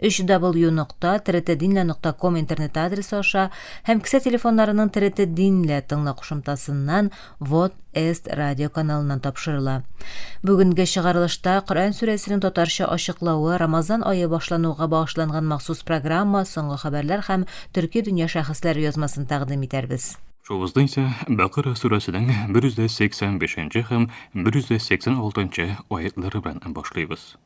www.tretdinle.com интернет адресы аша һәм кесә телефоннарының Третдинле тыңла кушымтасыннан Вот Эст радио каналыннан тапшырыла. Бүгенге чыгарылышта Коръән сүрәсенең татарча ачыклавы, Рамазан ае башлануга багышланган махсус программа, соңгы хәбәрләр һәм төрки дөнья шәхесләре язмасын тәкъдим итәрбез. Шуыбызда исә Бәкара сүрәсенең 185 нче һәм 186 нчы аятьләре белән башлыйбыз.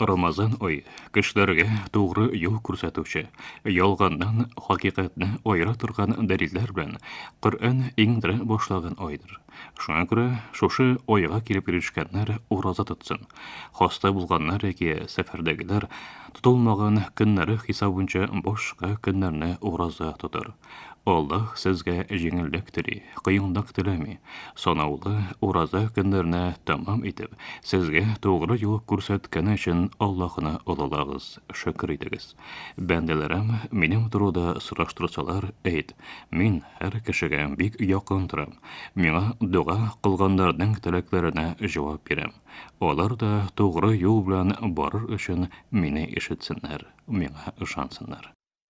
Рамазан ай, кешеләргә тугры юл күрсәтүче, ялганнан хакыйкатьне аера торган дәлилләр белән Коръән иңдерә башлаган айдыр. Шуңа күрә шушы айга килеп ирешкәннәр ураза тотсын. Хаста булганнар яки сәфәрдәгеләр тотылмаган көннәре хисабынча башка көннәрне ураза тотар. Аллаһ сезгә җиңеллек тели, кыенлык теләми. Санаулы ураза көннәрне тәмам итеп, сезгә тугры юл күрсәткәне өчен Аллаһны олылагыз, шөкер итегез. Бәндәләрем минем турыда сораштырсалар, әйт, мин һәр кешегә бик якын торам. Миңа дога кылганнарның теләкләренә җавап бирәм. Алар да тугры юл белән барыр өчен мине ишетсеннәр, миңа ышансыннар.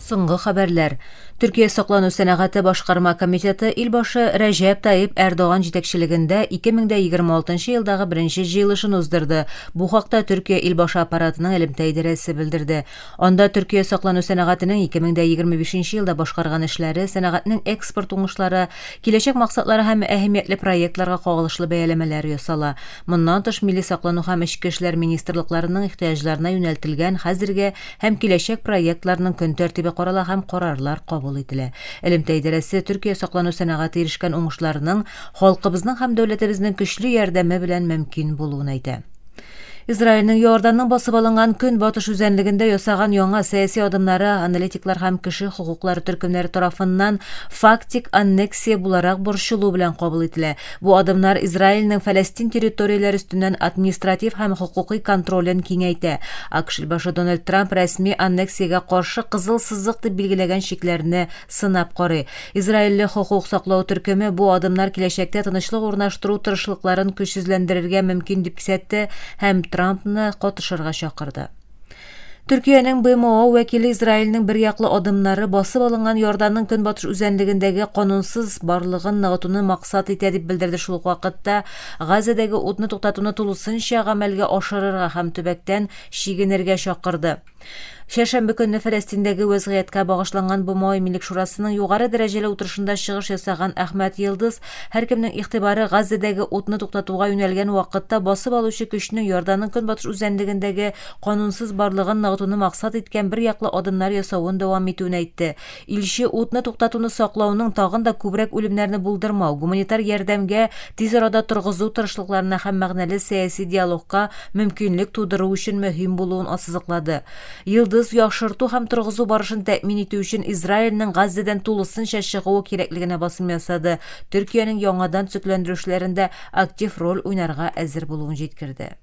Соңгы хәбәрләр. Төркия саклану сәнәгате башкарма комитеты илбашы Рәҗәп Таип Эрдоган җитәкчелегендә 2026 елдагы беренче җыелышын уздырды. Бу хакта Төркия илбашы аппаратының элемтә идарәсе белдерде. Анда Төркия саклану сәнәгатенең 2025 елда башкарган эшләре, сәнәгатьнең экспорт уңышлары, киләчәк максатлары һәм әһәмиятле проектларга кагылышлы бәяләмәләр ясала. Моннан тыш, милли саклану һәм эчке эшләр министрлыкларының ихтыяҗларына юнәлтелгән хәзерге һәм киләчәк проектларның көн тәртибе карала һәм карарлар кабул ителә. Элемтә идарәсе Төркия саклану сәнәгате ирешкән уңышларның халкыбызның һәм дәүләтебезнең көчле ярдәме белән мөмкин булуын әйтә. Израильнең Иорданның басып алынган Көнбатыш үзәнлегендә ясаган яңа сәяси адымнары аналитиклар һәм кеше хокуклары төркемнәре тарафыннан фактик аннексия буларак борчылу белән кабул ителә, Бу адымнар Израильнең Фәләстин территорияләре өстеннән административ һәм хокукый контролен киңәйтә. АКШ илбашы Дональд Трамп рәсми аннексиягә каршы кызыл сызык дип билгеләгән чикләрне сынап карый. Израильле хокук саклау төркеме бу адымнар киләчәктә тынычлык урнаштыру тырышлыкларын көчсезләндерергә мөмкин дип кисәтте һәм Трампны катышырга чакырды. Төркиянең БМО вәкиле Израильнең бер яклы адымнары басып алынган Иорданның көнбатыш үзәнлегендәге канунсыз барлыгын ныгытуны максат итә дип белдерде шул ук вакытта Газәдәге утны туктатуны тулысынча гамәлгә ашырырга һәм төбәктән чигенергә чакырды. Чәршәмбе көнне Фәләстиндәге вәзгыятькә багышланган БМО Иминлек шурасының югары дәрәҗәле утырышында чыгыш ясаган Әхмәт Йылдыз Һәркемнең игътибары Газзадәге утны туктатуга юнәлгән вакытта басып алучы көчнең Иорданның көнбатыш үзәнлегендәге канунсыз барлыгын ныгытуны максат иткән берьяклы адымнар ясавын дәвам итүен әйтте. Илче утны туктатуны саклауның тагын да күбрәк үлемнәрне булдырмау, гуманитар ярдәмгә тиз арада торгызу тырышлыкларына һәм мәгънәле сәяси диалогка мөмкинлек тудыру өчен мөһим булуын ассызыклады. Йолдыз яхшырту һәм торгызу барышын тәэмин итү өчен Израильнең Газзәдән тулысынча чыгуы кирәклегенә басым ясады, Төркиянең яңадан төзекләндерүчеләрендә актив роль уйнарга әзер булуын җиткерде.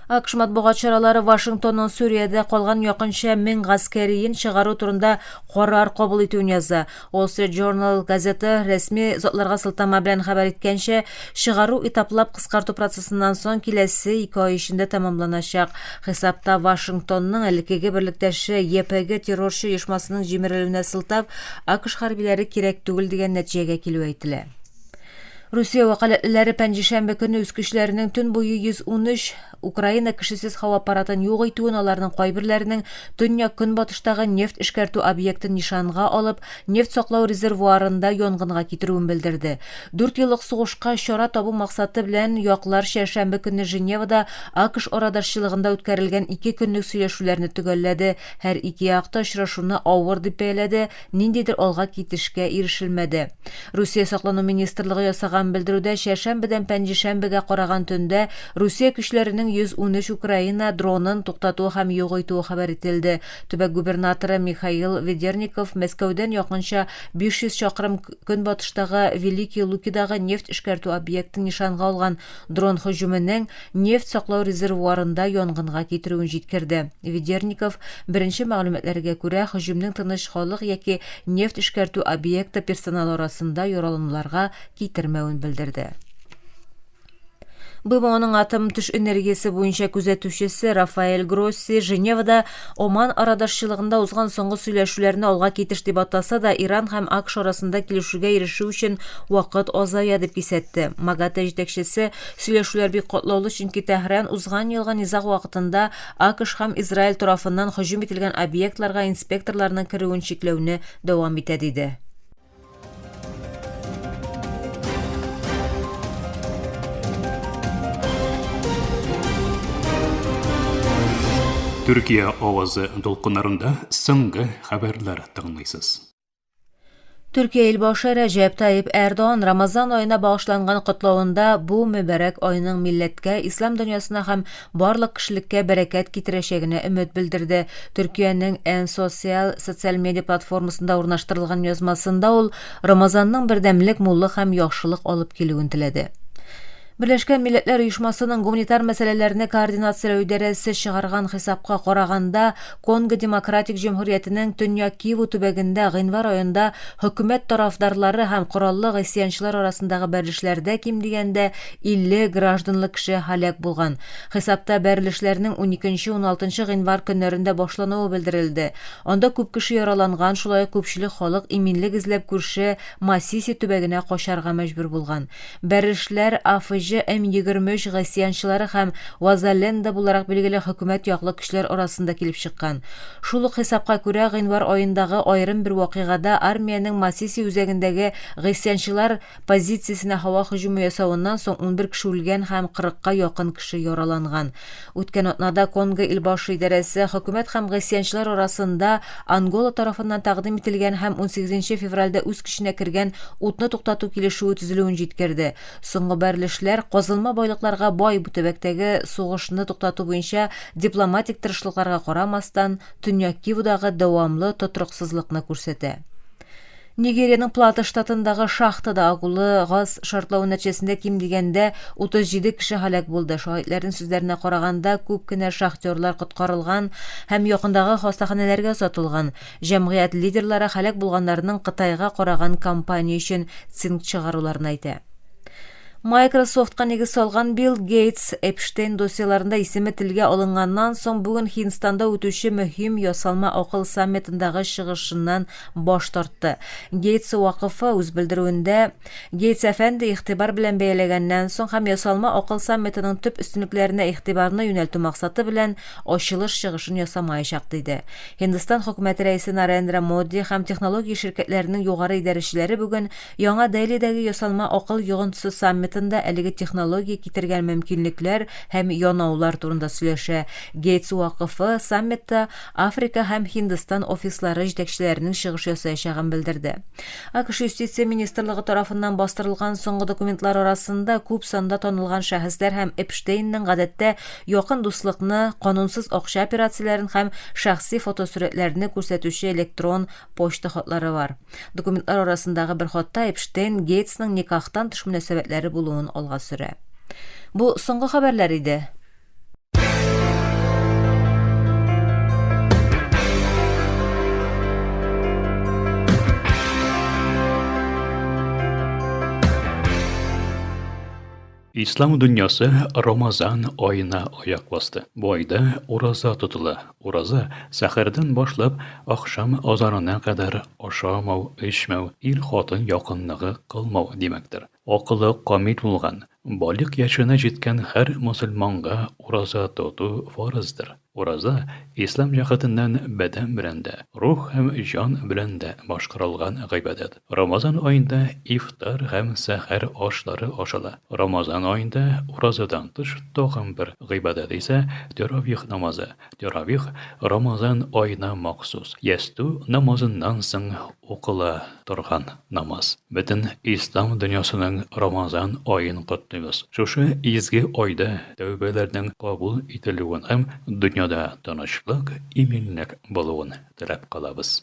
АКШ матбугат чаралары Вашингтонның Сүриядә калган якынча мең гаскәриен чыгару турында карар кабул итүен яза. Wall Street Journal газеты рәсми затларга сылтама белән хәбәр иткәнчә, чыгару этаплап кыскарту процессыннан соң киләсе ике ай эчендә тәмамланачак. Хисапта Вашингтонның элеккеге берлектәше YPG террорчы оешмасының җимерелүенә сылтап, АКШ хәрбиләре кирәк түгел дигән нәтиҗәгә килүе әйтелә. Русия вәкаләтлеләре пәнҗешәмбе көнне үз көчләренең төн буе 113 Украина кешесез һава аппаратын юк итүен аларның кайберләренең төньяк-көнбатыштагы нефть эшкәртү объектын нишанга алып, нефть саклау резервуарында янгынга китерүен белдерде. Дүрт еллык сугышка чара табу максаты белән яклар чәршәмбе көнне Женевада АКШ арадашчылыгында үткәрелгән ике көнлек сөйләшүләрне төгәлләде, һәр ике як та очрашуны авыр дип бәяләде, ниндидер алга китешкә ирешелмәде. Русия саклану министрлыгы ясаган белдерүдә чәршәмбедән пәнҗешәмбегә караган төндә Русия көчләренең 113 Украина дронын туктатуы һәм юк итүе хәбәр ителде. Төбәк губернаторы Михаил Ведерников Мәскәүдән якынча 500 чакрым көнбатыштагы Великие Лукидагы нефть эшкәртү объектын нишанга алган дрон һөҗүменең нефть саклау резервуарында янгынга китерүен җиткерде. Ведерников, беренче мәгълүматларга күрә, һөҗүмнең тыныч халык яки нефть эшкәртү объекты персоналы арасында яралануларга китермәвен белдерде. БМОның атом-төш энергиясе буенча күзәтүчесе Рафаэль Гросси Женевада Оман арадашчылыгында узган соңгы сөйләшүләрне алга китеш дип атаса да, Иран һәм АКШ арасында килешүгә ирешү өчен вакыт азая, дип кисәтте. МАГАТЭ җитәкчесе, Сөйләшүләр бик катлаулы, чөнки Тәһран узган елгы низаг вакытында АКШ һәм Израиль тарафыннан һөҗүм ителгән объектларга инспекторларның керүен чикләүне дәвам итә, диде. Төркия авазы дулкыннарында соңгы хәбәрләр тыңлыйсыз. Төркия илбашы Рәҗәп Таип Эрдоган Рамазан аена багышланган котлавында бу мөбарәк айның милләткә, ислам дөньясына һәм барлык кешелеккә бәрәкәт китерәчәгенә өмет белдерде. Төркиянең Эн социаль социаль медиа платформасында урнаштырылган язмасында ул Рамазанның бердәмлек, муллык һәм яхшылык алып килүен теләде. Берләшкән Милләтләр Оешмасының гуманитар мәсьәләләрне координацияләү идарәсе чыгарган хисапка караганда, Конго Демократик Җөмһүриятенең Төньяк Киву төбәгендә гыйнвар аенда хөкүмәт тарафдарлары һәм кораллы гыйсъянчылар арасындагы бәрелешләрдә ким дигәндә 50 гражданлы кеше һәлак булган. Хисапта бәрелешләрнең уникенче-уналтынчы гыйнвар көннәрендә башлануы белдерелде. Анда күп кеше яраланган, шулай ук күпчелек халык иминлек эзләп күрше Масиси төбәгенә качарга мәҗбүр булган. Бәрешләр, АФױ, М-23 гасьянчылары һәм Вазаленда буларак билгеле хөкүмәт яклы көчләр арасында килеп чыккан. Шул ук хисапка күрә, гыйнвар аендагы аерым бер вакыйгада армиянең Масиси үзәгендәге гыйсьянчылар позициясенә һава һөҗүме ясавыннан соң унбер кеше үлгән һәм кырыкка якын кеше яраланган. Үткән атнада Конго Илбашы идарәсе хөкүмәт һәм гыйсъянчылар арасында Ангола тарафыннан тәкъдим ителгән һәм унсигез нче февральдә үз көченә кергән утны туктату килешүе төзелүен җиткерде. Соңгы бәрелешләр казылма байлыкларга бай бу төбәктәге сугышны туктату буенча дипломатик тырышлыкларга карамастан, Төньяк Кивудагы дәвамлы тотрыксызлыкны күрсәтә. Нигериянең Плата штатындагы шахтада агулы газ шартлавы нәтиҗәсендә ким дигәндә 37 кеше һәлак булды. Шаһитләрнең сүзләренә караганда, күп кенә шахтерлар коткарылган һәм якындагы хастаханәләргә озатылган. Җәмгыять лидерлары һәлак булганнарның Кытайга караган компания өчен цинк чыгаруларын әйтә. Microsoft-ка нигез салган Билл Гейтс Эпштейн досьеларында исеме телгә алынганнан соң бүген Һиндстанда үтүче мөһим ясалма акыл саммитындагы чыгышыннан баш тартты. Гейтс вакыфы үз белдерүендә, Гейтс әфәнде игътибар белән бәяләгәннән соң һәм ясалма акыл саммитының төп өстенлекләренә игътибарны юнәлтү максаты белән ачылыш чыгышын ясамаячак, диде. Һиндстан Хөкүмәте рәисе Нарендра Моди һәм технология ширкәтләренең югары идарәчеләре бүген Яңа Делидәге ясалма акыл йогынтысы саммитында әлеге технология китергән мөмкинлекләр һәм янаулар турында сөйләшә. Гейтс вакыфы саммитта Африка һәм Һиндстан офислары җитәкчеләренең чыгыш ясаячагын белдерде. АКШ Юстиция министрлыгы тарафыннан бастырылган соңгы документлар арасында күп санда танылган шәхесләр һәм Эпштейнның гадәттә якын дуслыкны, канунсыз акча операцияләрен һәм шәхси фотосурәтләрне күрсәтүче электрон почта хатлары бар. Документлар арасындагы бер хатта Эпштейн Гейтсның никахтан тыш мөнәсәбәтләре булуын алга сөрә. Бу соңгы хәбәрләр иде. Ислам дөньясы Рамазан аена аяк басты. Бу айда ураза тотыла. Ураза, сәхәрдән башлап, ахшам азанына кадәр ашамау, эчмәү, ир-хатын якынлыгы кылмау димәктер. Акылы камил булган, балигъ яшенә җиткән һәр мөселманга ураза тоту фарыздыр. Ураза, ислам җәһәтеннән бәдән белән дә, рух һәм җан белән дә башкарылган гыйбадәт. Рамазан аенда ифтар һәм сәхәр ашлары ашала. Рамазан аенда уразадан тыш тагын бер гыйбадәт исә тәравих намазы. Тәравих Рамазан аена махсус, ястү намазыннан соң укыла. торган намаз. Бөтен Ислам дөньясының Рамазан аен котлыйбыз. Шушы изге айда тәүбәләрнең кабул ителүен һәм дөньяда тынычлык, иминлек булуын теләп калабыз.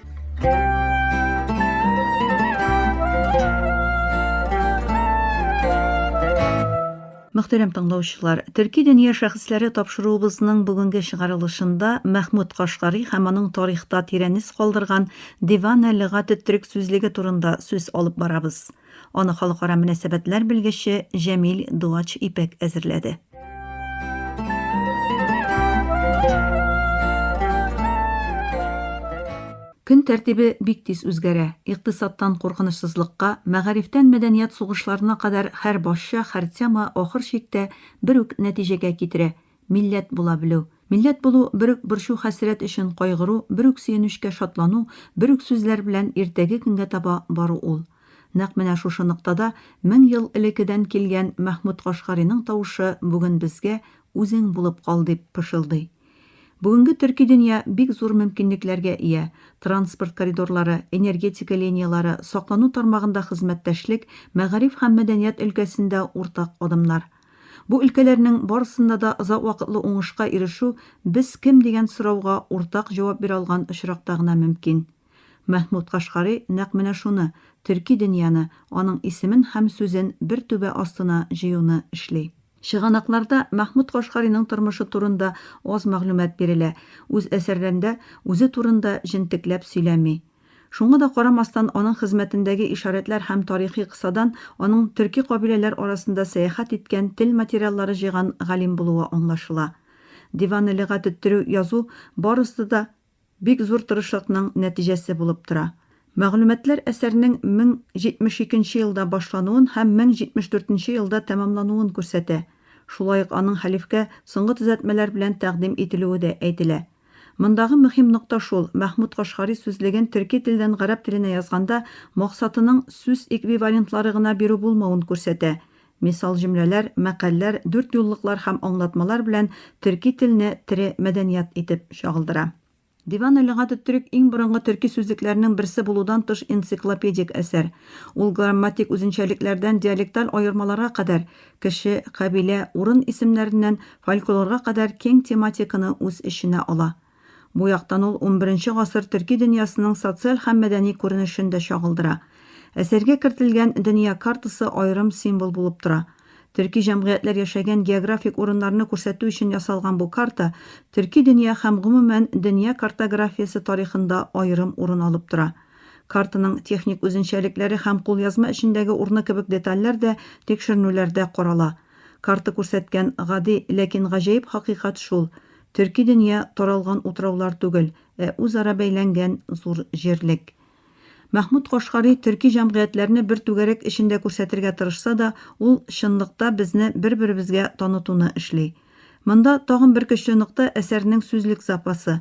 Мөхтәрәм тыңлаучылар, төрки дөнья шәхесләре тапшыруыбызның бүгенге чыгарылышында Мәхмүд Кашкари һәм аның тарихта тирәнес калдырган Дивана лөгате төрек сүзлеге турында сүз алып барабыз. Аны халыкара мөнәсәбәтләр белгече Җәмил Дуач Ипәк әзерләде. Көн тәртибе бик тиз үзгәрә. Икътисадтан куркынычсызлыкка, мәгарифтән мәдәният сугышларына кадәр һәр басча, һәр тема ахыр чиктә бер үк нәтиҗәгә китерә, Милләт була белү. Милләт булу, бер үк борчу-хәсрәт өчен кайгыру, бер үк сөенечкә шатлану, бер үк сүзләр белән иртәге көнгә таба бару ул. Нәкъ менә шушы ноктада мең ел элекедән килгән Мәхмүт Кашгариның тавышы бүген безгә Үзең булып кал дип пышылдый. Бүгенге төрки дөнья бик зур мөмкинлекләргә ия, транспорт коридорлары, энергетика линияләре, саклану тармагында хезмәттәшлек, мәгариф һәм мәдәният өлкәсендә уртак адымнар. Бу өлкәләрнең барысында да озак вакытлы уңышка ирешү без кем дигән сорауга уртак җавап бирә алган очракта гына мөмкин. Мәхмүт Кашкари нәкъ менә шуны, төрки дөньяны, аның исемен һәм сүзен бер түбә астына җыюны эшли. Чыганакларда Мәхмүт Кашкариның тормышы турында аз мәгълүмат бирелә, үз әсәрләрендә үзе турында җентекләп сөйләми. Шуңа да карамастан, аның хезмәтендәге ишарәтләр һәм тарихи кысадан аның төрки кабиләләр арасында сәяхәт иткән, тел материаллары җыйган галим булуы аңлашыла. Диван-ы-лөгать теттерү, язу, барысы да бик зур тырышлыкның нәтиҗәсе булып тора. Мәгълүматлар әсәрнең 1072 нче елда башлануын һәм 1074 нче елда тәмамлануын күрсәтә. Шулай ук аның хәлифкә соңгы төзәтмәләр белән тәкъдим ителүе дә әйтелә. Мондагы мөһим нокта шул, Мәхмүт Кашгари сүзлеген төрки телдән гарәп теленә язганда максатының сүз эквивалентлары гына бирү булмавын күрсәтә. Мисал җөмләләр, мәкальләр, дүртьюллыклар һәм аңлатмалар белән төрки телне тере мәдәният итеп чагылдыра. Диван-ы лөгат-ы төрек иң борынгы төрки сүзлекләрнең берсе булудан тыш энциклопедик әсәр. Ул грамматик үзенчәлекләрдән диалекталь аермаларга кадәр, Кеше, кабилә, урын исемнәреннән фольклорга кадәр киң тематиканы үз эченә ала. Бу яктан ул унберенче гасыр төрки дөньясының социаль һәм мәдәни күренешен дә чагылдыра. Әсәргә кертелгән дөнья картасы аерым символ булып тора. Төрки җәмгыятьләр яшәгән географик урыннарны күрсәтү өчен ясалган бу карта төрки дөнья һәм, гомумән, дөнья картографиясе тарихында аерым урын алып тора. Картаның техник үзенчәлекләре һәм кулъязма эчендәге урыны кебек детальләр дә тикшеренүләрдә карала. Карта күрсәткән гади, ләкин гаҗәеп хакыйкать шул, төрки дөнья таралган утраулар түгел, ә үзара бәйләнгән зур җирлек. Мәхмүт Кашгари төрки җәмгыятьләрне бер түгәрәк эчендә күрсәтергә тырышса да, ул чынлыкта безне бер-беребезгә танытуны эшли. Монда тагын бер көчле нокта әсәрнең сүзлек запасы.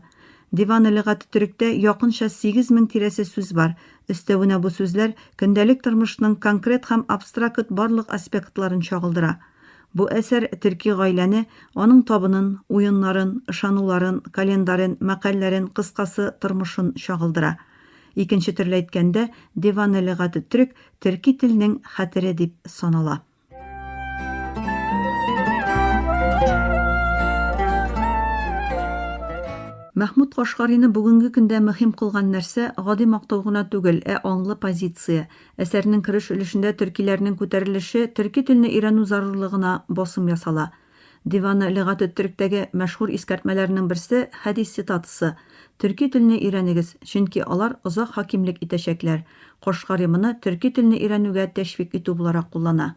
Диваны лигате төректә якынча сигез мең тирәсе сүз бар, өстәвенә бу сүзләр көндәлек тормышның конкрет һәм абстракт барлык аспектларын чагылдыра. Бу әсәр төрки гаиләне, аның табынын, уеннарын, ышануларын, календарен, мәкальләрен, кыскасы, тормышын чагылдыра. Икенче төрле әйткәндә, Диваны лигате төрек төрки телнең хәтере дип санала. Мәхмүт Кашгарины бүгенге көндә мөһим кылган нәрсә, гади мактау гына түгел, ә аңлы позиция. Әсәрнең кереш өлешендә төркиләрнең күтәрелеше, төрки телне өйрәнү зарурлыгына басым ясала. Диваны лөгате төректәге мәшһүр искәртмәләрнең берсе хәдис цитатасы, Төрки телне өйрәнегез, чөнки алар озак хакимлек итәчәкләр, Кашгари моны төрки телне өйрәнүгә тәшвик итү буларак куллана.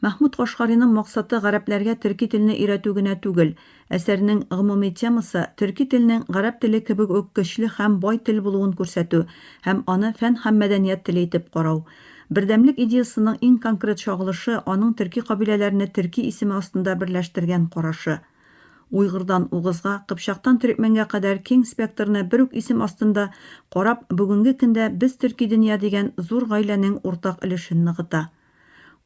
Мәхмүд Кашгариның максаты гарәпләргә төрки телне өйрәтү генә түгел, әсәрнең гомуми темасы, төрки телнең гарәп теле кебек үк көчле һәм бай тел булуын күрсәтү һәм аны фән һәм мәдәният теле итеп карау. Бердәмлек идеясының иң конкрет чагылышы аның төрки кабиләләрне төрки исеме астында берләштергән карашы. Уйгырдан угызга, кыпчактан төрекмәнгә кадәр киң спектрны бер үк исем астында карап бүгенге көндә Без төрки дөнья дигән зур гаиләнең уртак өлешен ныгыта.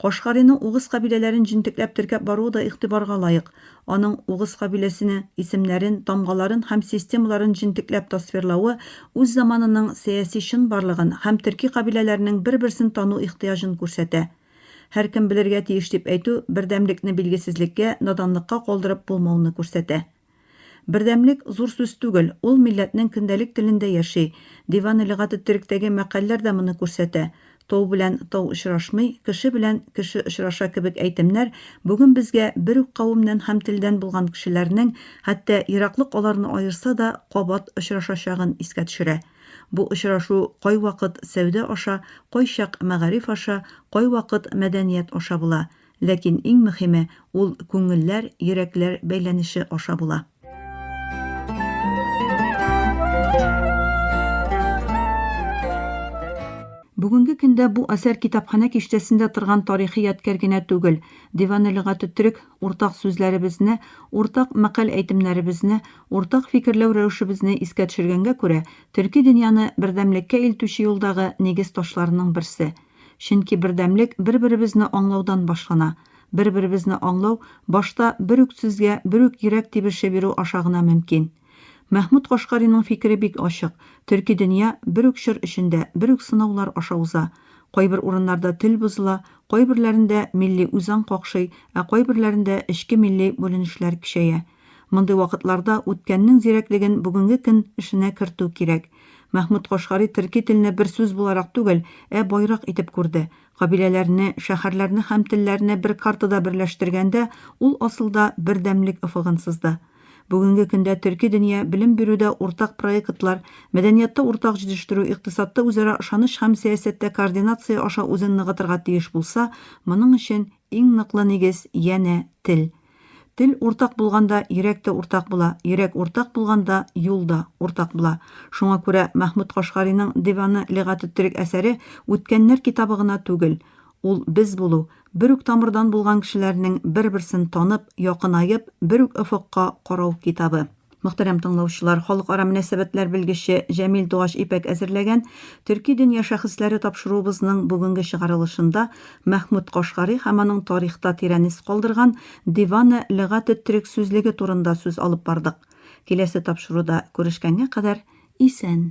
Кашгариның угыз кабиләләрен җентекләп теркәп баруы да игътибарга лаек, Аның угыз кабиләсенең исемнәрен, тамгаларын һәм системаларын җентекләп тасвирлавы үз заманының сәяси чынбарлыгын һәм төрки кабиләләрнең бер-берсен тану ихтыяҗын күрсәтә. Һәркем белергә тиеш дип әйтү бердәмлекне билгесезлеккә, наданлыкка калдырып булмауны күрсәтә. Бердәмлек, зур сүз түгел, ул милләтнең көндәлек телендә яши, Диван-ы-лөгат-ы-төректәге мәкальләр дә моны күрсәтә, Тау белән тау очрашмый, кеше белән кеше очраша кебек әйтемнәр бүген безгә бер үк кавемнән һәм телдән булган кешеләрнең, хәтта ераклык аларны аерса да, кабат очрашачагын искә төшерә. Бу очрашу кайвакыт сәүдә аша, кайчак мәгариф аша, кайвакыт мәдәният аша була. Ләкин иң мөхиме, ул күңелләр, йөрәкләр бәйләнеше аша була. Бүгенге көндә бу әсәр китапханә киштәсендә торган тарихи ядкәр генә түгел, Диваны лөгате төрек, уртак сүзләребезне, уртак мәкаль-әйтемнәребезне, уртак фикерләү рәвешебезне искә төшергәнгә күрә, төрки дөньяны бердәмлеккә илтүче юлдагы нигез ташларының берсе. Чөнки бердәмлек бер-беребезне аңлаудан башлана. Бер-беребезне аңлау башта бер үк сүзгә, бер үк йөрәк тибеше бирү аша гына мөмкин. Мәхмүт Кашкариның фикере бик ачык, төрки дөнья бер үк чор эчендә, бер үк сынаулар аша уза. Кайбер урыннарда тел бозыла, кайберләрендә милли үзаң какшый, ә кайберләрендә эчке милли бүленешләр көчәя. Мондый вакытларда үткәннең зирәклеген бүгенге көн эшенә кертү кирәк. Мәхмүт Кашгари төрки телне бер сүз буларак түгел, ә байрак итеп күрде. Кабиләләрне, шәһәрләрне һәм телләрне бер картада берләштергәндә, ул асылда бердәмлек офыгын сызды. Бүгенге көндә төрки дөнья белем бирүдә уртак проектлар, мәдәниятта уртак җитештерү, икътисадта үзара ышаныч һәм сәясәттә координация аша үзен ныгытырга тиеш булса, моның өчен иң ныклы нигез, янә, тел. Тел уртак булганда, йөрәк тә уртак була, йөрәк уртак булганда, юл да уртак була. Шуңа күрә Мәхмүт Кашгариның Деваны лигатү төрек әсәре үткәннәр китабы гына түгел. Ул без булу, бер үк тамырдан булган кешеләрнең бер-берсен танып, якынаеп, бер үк офыкка карау китабы. Мөхтәрәм тыңлаучылар, халыкара мөнәсәбәтләр белгече Җәмил Дугач Ипәк әзерләгән Төрки дөнья шәхесләре тапшыруыбызның бүгенге чыгарылышында Мәхмүд Кашгари һәм аның тарихта тирән эз калдырган Диване лөгать ат-төрек сүзлеге турында сүз алып бардык. Киләсе тапшыруда күрешкәнгә кадәр исән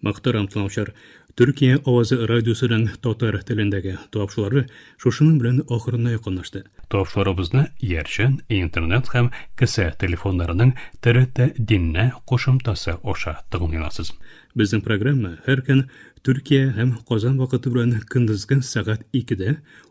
Мактарам, Тынавчар. Төркия авазы радиосының татар телендәге тапшылары шушының белән ахырына якынлашты. Тапшыларыбызны иярчән интернет һәм кесә телефоннарының ТРТ Диннә кушымтасы аша тыңлый аласыз. Безнең программа һәр көн Төркия һәм Казан вакыты белән көндезге сәгать икедә,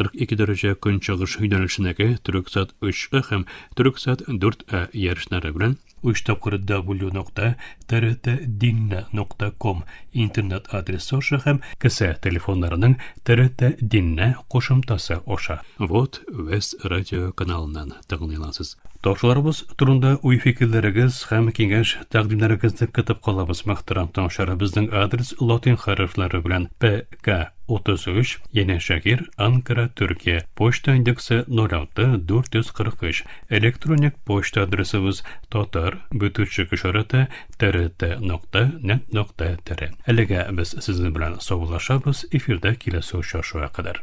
42 дәрәҗә көнчыгыш юнәлешенәге Төрексат 3А һәм Төрексат 4А ярышлары белән 3 тапкыр w.trtdinna.com интернет адресы аша һәм кесә телефоннарының trtdinna кушымтасы аша. Вот Вест радио каналыннан тыңлыйласыз. Ташларыбыз турында уй-фикерләрегез һәм киңәш тәкъдимнәрегезне көтеп калабыз, мөхтәрәм тыңлаучылар. Безнең адрес латин хәрефләре белән P К. 33, янәшә гер, Анкара, Төркия, почта индексы 06443, электроник почта адресыбыз татар, бөтүчек ишараты, трт нокта, нет нокта, тире. Әлегә без сезнең белән саубуллашабыз, эфирда киләсе очрашуга кадәр.